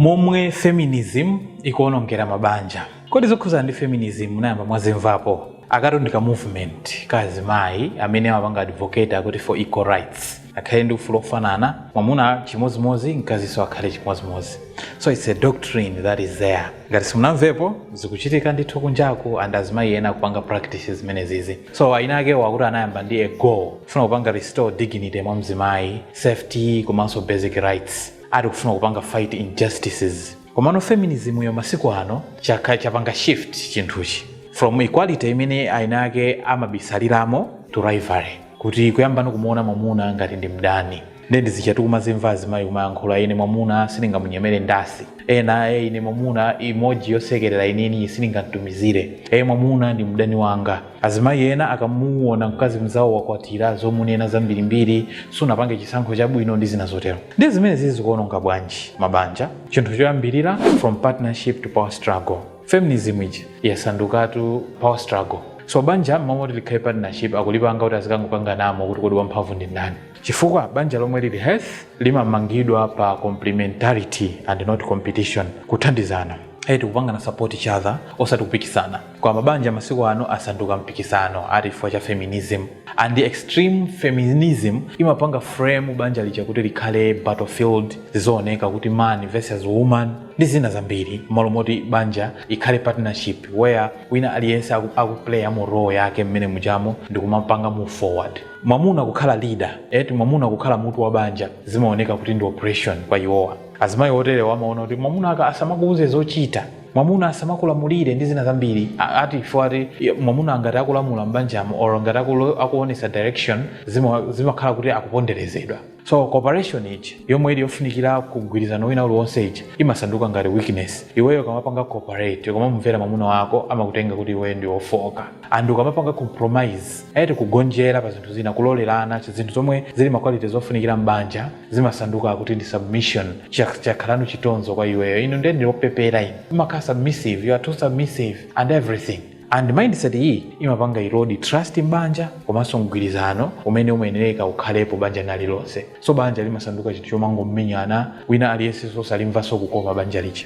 Momwe Feminism Ikuonongera Mabanja. Kodi zokhudzana ndi feminism munayamba mwazimvapo? Akatu ndi ka movement ka azimayi amene amapanga advocate akuti for equal rights. Akhale ndi ufulu ofanana, mwamuna chimodzimodzi, mkazinso akhale chimodzimodzi. So it's a doctrine that is there. Ngati simunamvepo, zikuchitika ndithu kunjaku and azimayi ena akupanga practice zimenezizi. So ayina akewo akuti anayamba ndi a goal, kufuna kupanga restore dignity mwa mzimayi, safety komanso basic rights. ati kufuna kupanga fight injustices komano feminism yo masiku ano cha- chapanga shift chinthuchi from equality imene ayina akewo amabisaliramo to rivalry kuti kuyamba no kumuona mwamuna ngati ndi mdani nde ndi zija tikumazimva azimayi kumayankhula ine mwamuna sindingamunyemere ndasi ena e ine mwamuna emoji yosekerera ineyo sindingamtumizire e mwamuna ndi mdani wanga Azimayi ena akamuona mkazi mzawo wakwatira zomunena zambirimbiri, sunapange chisankho chabwino ndi zina zotero. Ndiye zimenezi zikuononga bwanji mabanja? Chinthu choyambirira from partnership to power struggle. Feminism ija yasandukatu power struggle. So banja m'malo moti likhale partnership akulipanga kuti azikangokanganamo kuti kodi wamphamvu ndi ndani. Chifukwa banja lomwe lili healthy limamangidwa pa complementarity and not competition, kuthandizana. Eti kupangana support each other osati kupikisana. Koma mabanja masiku ano asanduka mpikisano ati chifukwa cha feminism. And extreme feminism imapanga frame banja lija kuti likhale battlefield, zizioneka kuti man versus woman ndi zina zambiri m'malo moti banja ikhale partnership where wina aliyense aku, akuplayamo role yake mmene mujamo ndikumapanga move forward. Mwamuna kukhala leader, eti mwamuna kukhala mutu wa banja zimaoneka kuti ndi oppression kwa iwowa. Azimayi oterewa amaona kuti mwamuna aka asamakuuze zochita. mwamuna asamakulamulire ndi zina zambiri A- ati chifukwa ati ya, mwamuna ngati akulamula m'banjamo or ngati akulo- akuonesa direction zima- zimakhala kuti akuponderezedwa so cooperation iji yomwe ili yofunikira mgwirizano wina uliwonse iji imasanduka ngati weakness iweyo ukamapanga cooperate ukamamumvera mwamuna wako amakutenga kuti iweyo ndi wofoka and ukamapanga compromise eti kugonjera pa zinthu zina kulolerana zinthu zomwe zili ma quality zofunikira m'banja zimasanduka kuti ndi submission Chak- chakhalano chitonzo kwa iweyo inu ndiye ndi wopepera inu umakhala submissive you are too submissive and everything and mindset iyi imapanga erode trust m'banja komanso mgwirizano umene umayenereka ukhalepo banja lina lililonse so banja limasanduka chinthu chomangomenyana wina aliyense osalimvanso kukoma banja lija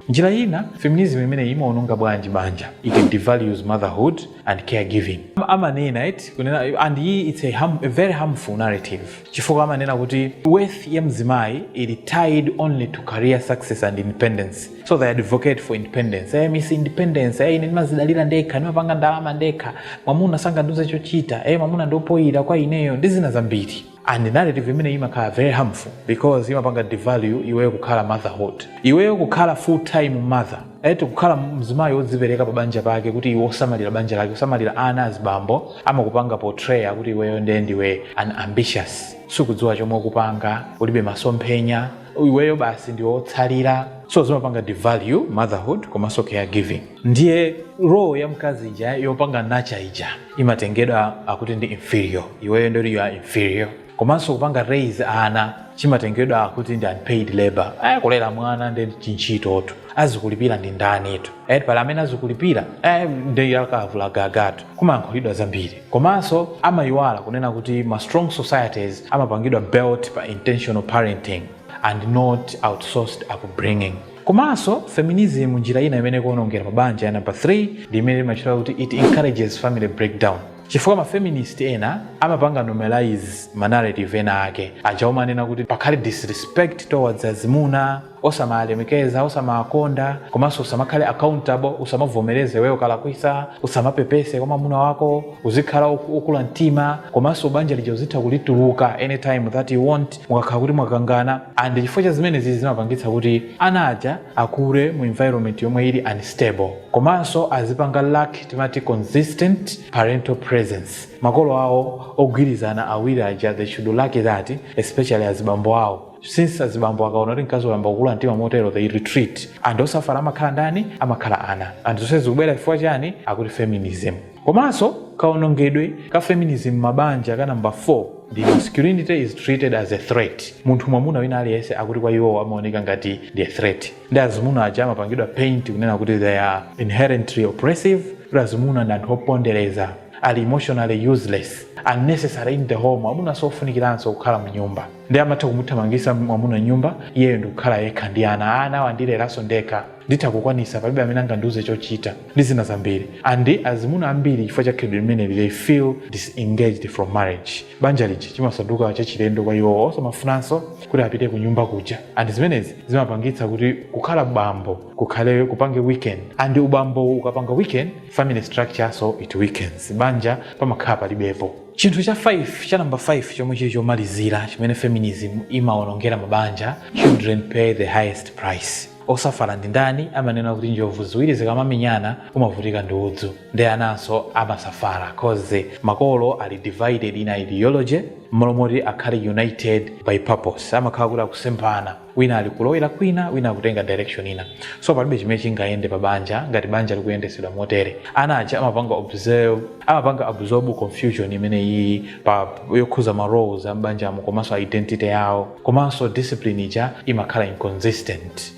njira ina feminism imeneyi imaononga bwanji banja it devalues motherhood and caregiving. amanena eti kunena and iyi it's a harm-, a very harmful narrative chifukwa amanena kuti worth ya mzimayi ili tied only to career success and independence so they advocate for independence eh, miss independence eh, ine ndimazidalira ndekha ndimapanga ndalama ndekha mwamuna sangandiuze chochita eh, mwamuna ndiopoyira kwa ineyo ndi zina zambiri and narrative imeneyi imakhala very harmful because imapanga devalue iweyo kukhala motherhood iweyo kukhala full time mother eti kukhala mzimayi wodzipereka pa banja pake kuti iwe osamalira banja lake osamalira ana azibambo amakupanga portraya kuti iweyo ndiye ndiwe unambitious sukudziwa chomwe ukupanga ulibe masomphenya iweyo basi ndiwe otsalira so zimapanga devalue motherhood komanso caregiving ndiye role ya mkazi ija yopanga nurture ija imatengedwa akuti ndi inferior iweyo ndoti you are inferior komanso kupanga raise ana chimatengedwa akuti ndi unpaid labor aya kulera mwana ndi chintchitotu azikulipira ndi ndanitu et pali amene azikulipira eh, ndi akavula gagatu kumayankhulidwa zambiri komanso amayiwala kunena kuti ma strong societies amapangidwa built pa intentional parenting and not outsourced upbringing Komanso, feminism njira ina imene ikuwonongera mabanja ya number 3 ndi imene imachita kuti it encourages family breakdown. Chifukwa ma feminist ena amapanga normalize ma narrative ena ake aja omanena kuti pakhale disrespect towards azimuna, osamalemekeza, osamakonda, komanso usamakhale accountable, usamavomereze iweyo ukalakwisa, usamapepese kwa mwamuna wako, uzikhala okula mtima, komanso banja lija uzitha kulituluka anytime that you want. mukakhala kuti mwakangana and chifukwa cha zimenezi zimapangitsa kuti ana aja akule mu environment yomwe ili unstable komanso azipanga lack timati consistent parental presence makolo awo ogwirizana awiri aja they should lack that especially azibambo awo since azibambo akaona kuti mkazi wayamba kukula mtima motero they retreat and osafala amakhala ndani amakhala ana and zonsezi zikubwera chifukwa chani akuti feminism Komanso kawonongedwe ka feminism m'mabanja ka number 4 ndi masculinity is treated as a threat. Munthu mwamuna wina aliyense akuti kwa iwo amaoneka ngati ndi a threat. Ndi azimuna aja amapangidwa paint kunena kuti they are inherently oppressive, kuti azimuna ndi anthu opondereza, ali emotionally useless, unnecessary in the home, amuna siofunikiranso kukhala mu nyumba. Ndiye amatha kumuthamangisa mwamuna m'nyumba, iyeyo ndikukhala yekha ndi ana. Ana awa ndileranso ndekha. nditha kukwanisa palibe amene angandiuze chochita ndi zina zambiri and azimuna ambiri chifukwa cha khalidwe limeneli they feel disengaged from marriage banja lija chimasanduka chachilendo kwa iwo osamafunanso kuti apite ku nyumba kuja and zimenezi zimapangitsa kuti kukhala bambo kukhale kupange weaken and ubambo ukapanga weaken family structure also it weakens banja pamakhala palibepo chinthu cha 5 cha namba 5 chomwe chili chomalizira chimene feminism imaonongera mabanja children pay the highest price Osafala ndi ndani amanena kuti njovu ziwiri zikamamenyana omavutika ndi udzu nde ananso amasafala coz makolo ali divided in ideology mmalo moti akhale united by purpose amakhala kuti akusemphana wina ali kulowera kwina wina akutenga direction ina so palibe chimene chingayende pa banja ngati banja likuyendesedwa motere ana aja amapanga observe amapanga absorb confusion imene iyi pa yokhuza ma roles a m'banjamo komanso identity yawo komanso discipline ija imakhala inconsistent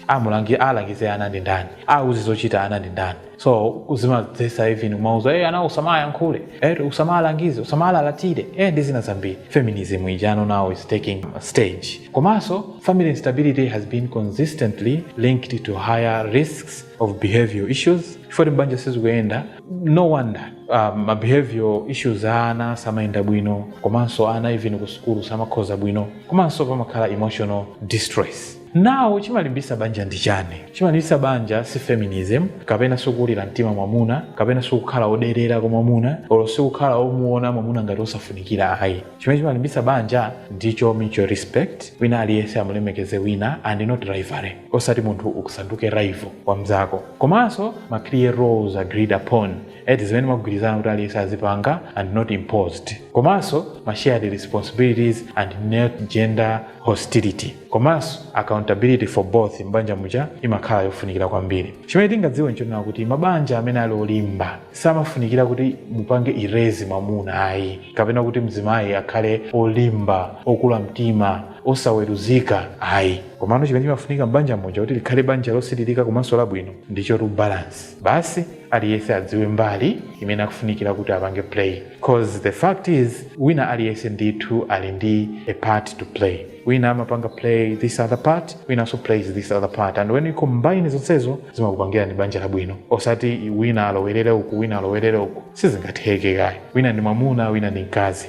alangize ana ndi ndani auze zochita ana ndi ndani so zimadzesa even kumauza hey, ana usamayankhule eh, usamalangize usamalalatire eh, ndi zina zambiri feminism ijano now is taking stage komanso family instability has been consistently linked to higher risks of behavioral issues for banja sizikuyenda no wonder uh, ma behavior issues a ana samayenda bwino komanso ana even ku sukulu samakhoza bwino komanso pamakhala emotional distress now chimalimbisa banja ndi chani chimalimbisa banja si feminism kapena sikukulira mtima mwamuna kapena sikukhala oderera kwa mwamuna olo sikukhala omuona mwamuna ngati osafunikira ayi chimene chimalimbisa banja ndicho mutual respect wina aliyense amulemekeze wina and not rivalry osati munthu ukasanduke rival wa mzako komanso ma clear roles agreed upon eti zimene mwagwirizana kuti aliyense azipanga and not imposed komanso ma shared responsibilities and not gender hostility komanso accountability for both m'banja muja imakhala yofunikira kwambiri chimene tingadziwe nchonena kuti mabanja amene ali olimba samafunikira kuti mupange erase mwamuna ayi kapena kuti mzimayi akhale olimba okula mtima osaweruzika ayi komano chimene chimafunika m'banja muja kuti likhale banja losiririka komanso labwino ndicho to balance basi aliyense adziwe mbali imene akufunikira kuti apange play cause the fact is wina aliyense ndithu ali ndi a part to play wina amapanga play this other part winanso plays this other part and when you combine zonsezo zimakupangira ndi banja labwino osati wina alowerere uku wina alowerere uku sizingatheke ayi wina ndi mwamuna wina ndi mkazi